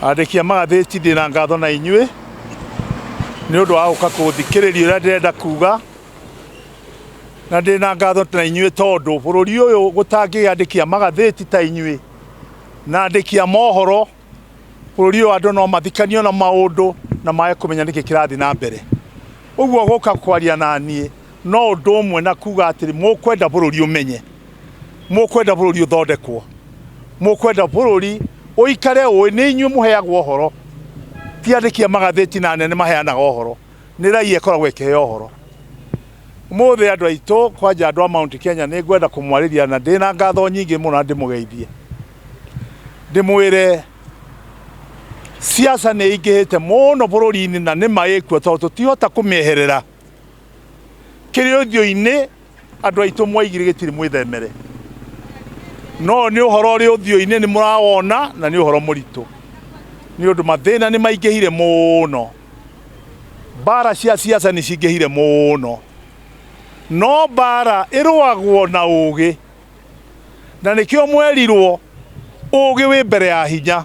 andĩki a magathĩti ndĩ na ngatho na inyuĩ nĩ ũndũ wa gũka kũthikĩrĩria ũrĩa ndĩrenda kuga na ndĩ na ngatho na inyuĩ tondũ bũrũri ũyũ gũtangĩgĩa andĩki a magathĩti ta inyuĩ na andĩki a mohoro bũrũri ũyũ andũ no mathikanio na maũndũ na maage kũmenya nĩkĩ kĩrathiĩ na mbere ũguo gũka kwaria na niĩ no ũndũ ũmwe na kuga atĩrĩ mũkwenda bũrũri ũmenye mũkwenda bũrũri ũthondekwo mũkwenda bũrũri ũikare ũĩ nĩ inyuĩ mũheagwo ũhoro ti andĩki a magathĩti na nene maheanaga ũhoro nĩ raia ĩkoragwo ĩkĩheo ũhoro mũthĩ andũ aitũ kwanja andũ a Mount Kenya nĩ ngwenda kũmwarĩria na ndĩ na ngatho nyingĩ mũno na ndĩmũgeithie ndĩmwĩre siasa nĩ ingĩhĩte mũno bũrũri-inĩ na nĩ maĩkuo tondũ tũtihota kũmĩeherera kĩrĩ ũthiũ-inĩ andũ aitũ mwaigire gĩtirĩ mwĩthemere no nĩ ũhoro ũrĩ ũthiũ-inĩ nĩ mũrawona na nĩ ũhoro mũritũ nĩ ũndũ mathĩna nĩ maingĩhire mũno mbara cia siasa nĩ cingĩhire mũno no mbara ĩrũagwo na ũgĩ na nĩkĩo mwerirwo ũgĩ wĩ mbere ya hinya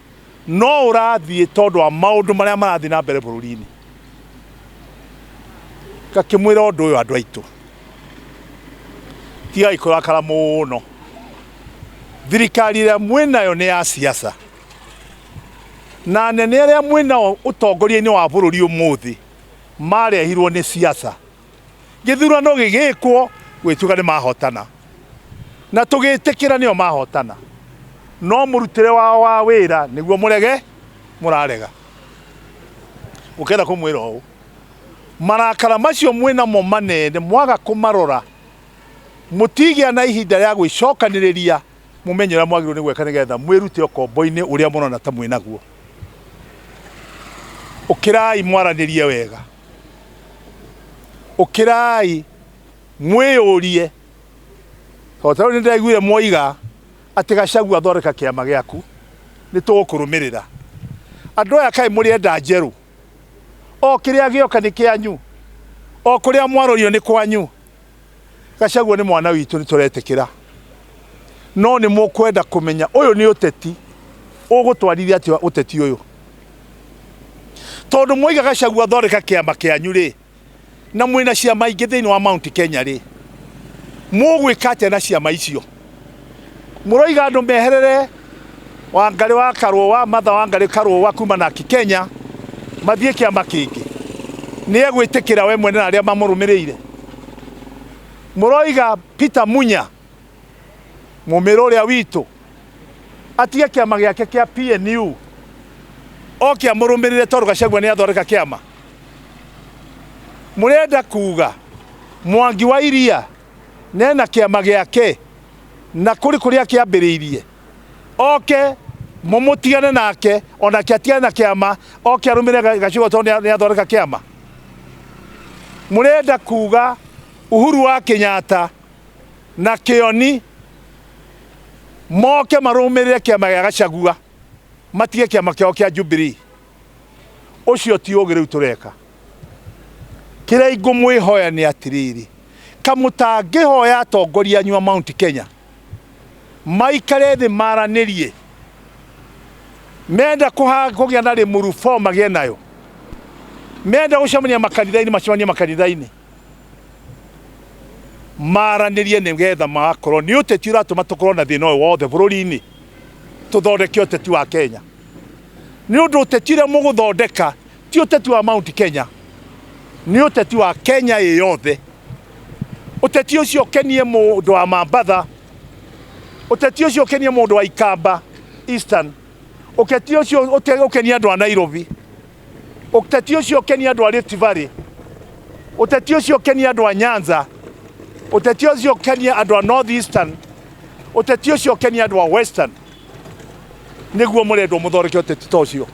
no ũrathiĩ tondũ wa maũndũ marĩa marathiĩ na mbere bũrũri-inĩ ngakĩmwĩra ũndũ ũyũ andũ aitũ tigai kũrakara mũno thirikari ĩrĩa mwĩnayo nĩ ya siasa na anene arĩa mwĩnao ũtongoria-inĩ wa bũrũri ũmũthĩ marehirwo nĩ siasa gĩthurano gĩgĩkwo gwĩtuga nĩ mahotana na tũgĩtĩkĩra nĩo mahotana no mũrutĩre wao wa wĩra nĩguo mũrege mũrarega gũkenda kũmwĩra ũũ marakara macio mwĩnamo manene mwaga kũmarora mũtigĩa na ihinda rĩa gwĩcokanĩrĩria mũmenye ũrĩa mwagĩrĩirwo nĩ gwĩka nĩgetha mwĩrute ũkombo-inĩ ũrĩa mũrona ta mwĩnaguo ũkĩrai mwaranĩrie wega ũkĩrai mwĩyũrie tondũ tarĩu nĩ ndaiguire mwoiga atĩ gacagua athondeka kĩama gĩaku nĩ tũgũkũrũmĩrĩra andũ aya kaĩ mũrĩenda njerũ o kĩrĩa gĩoka nĩ kĩanyu o kũrĩa mwarũrio nĩ kwanyu gacagua nĩ mwana witũ nĩ tũretĩkĩra no nĩ mũkwenda kũmenya ũyũ nĩ ũteti ũgũtwarithia atĩa ũteti ũyũ tondũ mwaiga gacagua thondeka kĩama kĩanyu rĩ na mwĩna ciama ingĩ thĩinĩ wa mount kenya rĩ mũgwĩka atĩa na ciama icio Mũroiga andũ meherere Wangarĩ wa Karũũ wa Matha Wangarĩ Karũũ wa kuma na Kenya mathiĩ kĩama kĩngĩ, nĩ egwĩtĩkĩra we mwene na arĩa mamũrũmĩrĩire? Mũroiga Peter Munya mũmĩrũ ũrĩa witũ atige kĩama gĩake kĩa PNU oke amũrũmĩrĩre tondũ Gachagua nĩ athondeka kĩama? Mũrenda kuga Mwangi wa Iria ne na kĩama gĩake, na kũrĩ kũrĩa kĩambĩrĩirie, oke mũmũtigane nake, o nake atigane na kĩama, oke arũmĩre Ga- Gachagua tondũ nĩa- nĩathondeka kĩama. Mũrenda kuga Uhuru wa Kenyatta na Kĩoni moke marũmĩrĩre kĩama gĩa Gachagua, matige kĩama kĩao kĩa Jubilee. ũcio ti ũgĩ rĩu tũreka kĩrĩa ingũmwĩhoya nĩ atĩrĩrĩ kamũtangĩhoya atongoria anyu a mount kenya maikare thĩ maranĩrie menda kũgĩa na rĩmuru 4 magĩe nayo menda gũcemania makanitha-inĩ macemanie makanitha-inĩ maranĩrie nĩ getha magakorwo nĩ ũteti ũratũma tũkorwo na thĩna ũyũ wothe bũrũri-inĩ tũthondeke ũteti wa Kenya nĩ ũndũ ũteti ũrĩa mũgũthondeka ti ũteti wa Mount Kenya nĩ ũteti wa Kenya ĩ yothe ũteti ũcio ũkenie mũndũ wa Mambatha ũteti ũcio ũkenie mũndũ wa Ikamba Eastern ũteti ũcio ũkenie andũ a Nairobi Ũteti ũcio ũkenie andũ a Rift Valley, ũteti ũcio ũkenie andũ a Nyanza, ũteti ũcio ũkenie andũ a North Eastern, ũteti ũcio ũkenie andũ a Western. Nĩguo mũrendwo mũthondeke ũteti ta ũcio,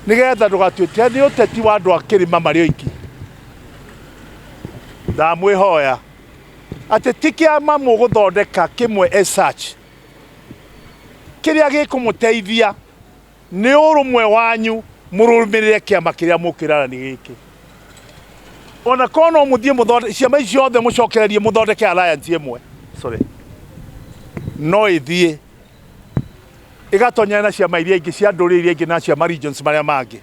nĩgetha ndũgatuĩke nĩ ũteti wa andũ a kĩrĩma marĩ oiki. Ndamwĩhoya atĩ ti kĩama mũgũthondeka kĩmwe as such kĩrĩa gĩkũmũteithia Nĩ ũrũmwe wanyu mũrũmĩrĩre kĩama kĩrĩa mũkĩranani gĩkĩ. Ona korwo no mũthiĩ mũthondeke, ciama ici ciothe mũcokererie mũthondeke alliance ĩmwe, sorry, no ĩthiĩ ĩgatonyana na ciama iria ingĩ cia ndũrĩrĩ iria ingĩ na cia ma regions marĩa mangĩ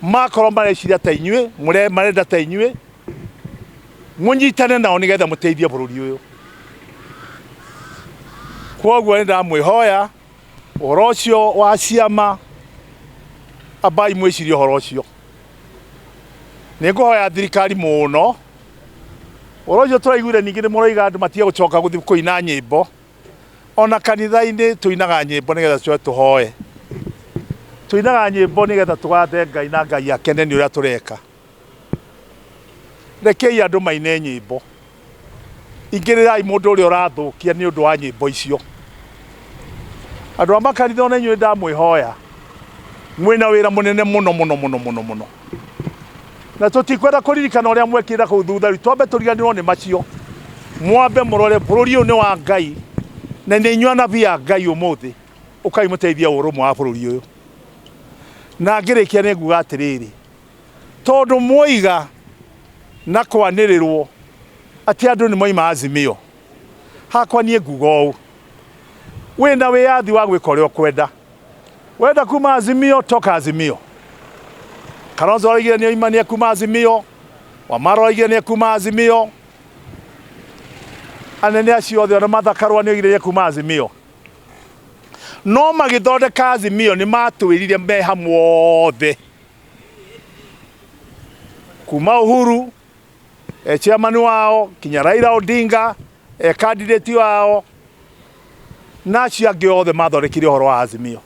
makorwo mareciria ta inyuĩ mũre- marenda ta inyuĩ mũnyitane nao nĩgetha mũteithie bũrũri ũyũ kwoguo nĩ ndamwĩhoya Ũhoro ũcio wa ciama, ambai mwĩcirie ũhoro ũcio. Nĩ ngũhoya thirikari mũno, ũhoro ũcio tũraiguire ningĩ nĩ mũroiga andũ matige gũcoka gũthiĩ kũina nyĩmbo, ona kanitha-inĩ tũinaga nyĩmbo nĩgetha tũcoke tũhoe. Tũinaga nyĩmbo nĩgetha tũgathe Ngai na Ngai akene nĩ ũrĩa tũreka. Rekei andũ maine nyĩmbo. Ingĩrĩrai mũndũ ũrĩa ũrathũkia nĩ ũndũ wa nyĩmbo icio. Andũ a makanitha ona inyuĩ ndamwĩhoya, mwĩna wĩra mũnene mũno mũno mũno mũno mũno, na tũtikwenda kũririkana ũrĩa mwekĩra kũu thutha rĩu, twambe tũriganĩrwo nĩ macio, mwambe mũrore bũrũri ũyũ nĩ wa Ngai na nĩ inyuĩ anabii a Ngai ũmũthĩ, ũkai mũteithie ũrũmwe wa bũrũri ũyũ. Na ngĩrĩkia nĩ nguga atĩrĩrĩ, Tondũ mwoiga na kwanĩrĩrwo atĩ andũ nĩ moima Azimio, hakwa niĩ nguga ũũ, wĩ na wĩyathi wa gwĩka ũrĩa ũkwenda. Wenda kuma Azimio, toka Azimio. Kalonzo araugire nĩ oima nĩ ekuma Azimio, Wamara araugire nĩ ekuma Azimio, anene acio othe ona Martha Karũa nĩ oigire nĩ ekuma Azimio. No magĩthondeka Azimio nĩ matwĩrire me hamwe othe kuma Uhuru e chairman wao kinya Raila Odinga e candidate wao na acio angĩ othe mathondekire ũhoro wa Azimio.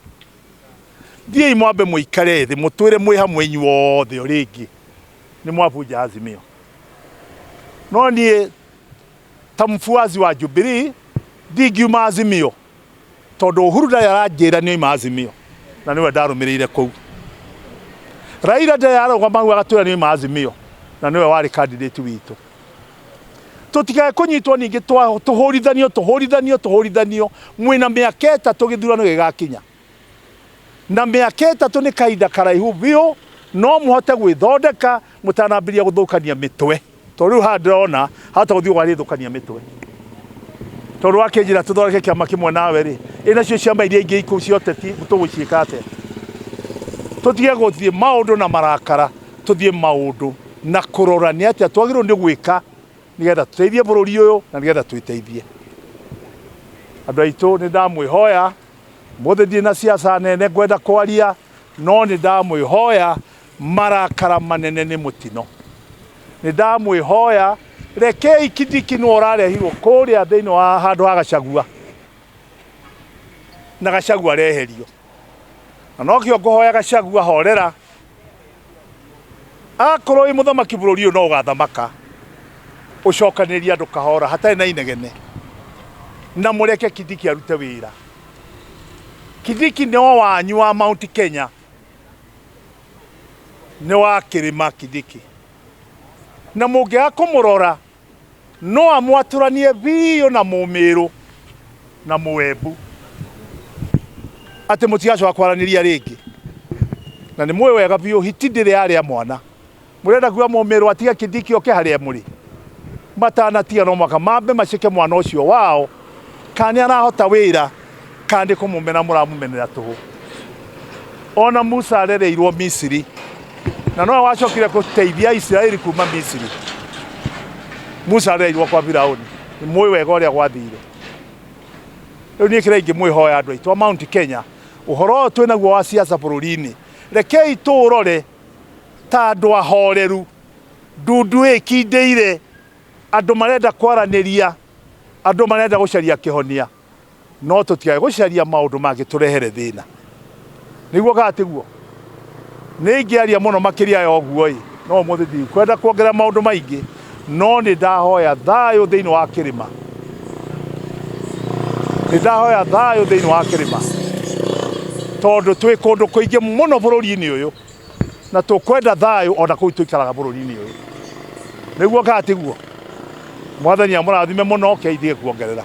Thiĩi mwambe mũikare thĩ mũtwĩre mwĩ hamwe inyuothe rĩngĩ nĩ mwabunja Azimio. No niĩ ta mfuasi wa Jubilee ndingiuma Azimio. tondũ Uhuru ndarĩ aranjĩra nĩ oima Azimio na nĩwe ndarũmĩrĩire kũu. Raila ndarĩ ararũgama hau agatwĩra nĩ oima Azimio na nĩwe warĩ kandidati witũ. Tũtikae kũnyitwo ningĩ tũhũrithanio tũhũrithanio tũhũrithanio mwĩna mĩaka ĩtatũ gĩthurano gĩgakinya. Na mĩaka ĩtatũ nĩ kahinda karaihu biũ, no mũhote gwĩthondeka mũtanambĩrĩria gũthũkania mĩtwe. Tondũ rĩu haha ndĩrona hahota gũthiĩ ũgarĩthũkania mĩtwe. Tondũ wakĩnjĩra tũthondeke kĩama kĩmwe nawe rĩ, ĩ nacio ciama iria ingĩ ikũ cia ũteti tũgũciĩka atĩa? Tũtige gũthiĩ maũndũ na marakara, tũthiĩ maũndũ na kũrora nĩ atĩa twagĩrĩirwo nĩ gwĩka nĩgetha tũteithie bũrũri ũyũ na nĩgetha twĩteithie. Andũ aitũ nĩ ndamwĩhoya Ũmũthĩ ndirĩ na ciaca nene ngwenda kwaria, no nĩ ndamwĩhoya marakara manene nĩ mũtino. Nĩ ndamwĩhoya rekei Kindiki nĩwe ũrarehirwo kũrĩa thĩinĩ wa handũ ha Gachagua, na Gachagua areherio. Na nokĩo ngũhoya Gachagua horera. akorwo wĩ mũthamaki bũrũri ũyũ no ũgathamaka ũcokanĩrĩrie andũ kahora hatarĩ na inegene na mũreke kithiki arute wĩra kithiki nĩ o wanyu wa mount kenya nĩ wa kĩrĩma kithiki na mũngĩaga kũmũrora no amwatũranie biũ na mũmĩrũ na mũwembu atĩ mũtigacoka kwaranĩria rĩngĩ na nĩ mũĩ wega biũ hiti ndĩrĩ yarĩa mwana mũrenda kuga mũmĩrũ atige kĩndiki oke harĩa mũrĩ matanatiga no mwaka mambe maceke mwana ũcio wao kana nĩ arahota wĩra kana nĩ kũmũmena mũramũmenera tũhũ ona musa arereirwo misiri na nowe wacokire gũteithia isiraeli kuma misiri musa arereirwo kwa firauni nĩ mũĩ wega ũrĩa gwathire rĩu niĩ kĩrĩa ingĩmwĩhoya andũ aitũ a mount kenya ũhoro ũyũ twĩ naguo wa siasa bũrũri-inĩ rekei tũũrore ta andũ ahoreru ndundu ĩkindĩire andũ marenda kwaranĩria Andũ marenda gũcaria kĩhonia, no tũtikae gũcaria maũndũ mangĩtũrehere thĩna. Nĩguo kana tiguo? Nĩ ingĩaria mũno makĩria ya ũguo-ĩ, no ũmũthĩ ndikwenda kuongerera maũndũ maingĩ, no nĩ ndahoya thayũ thĩinĩ wa kĩrĩma. Nĩ ndahoya thayũ thĩinĩ wa kĩrĩma, tondũ twĩ kũndũ kũingĩ mũno bũrũri-inĩ ũyũ. na tũkwenda thayũ o na kũu tũikaraga bũrũri-inĩ ũyũ nĩguo kaa tiguo mwathani amũrathime mũno keithie kuongerera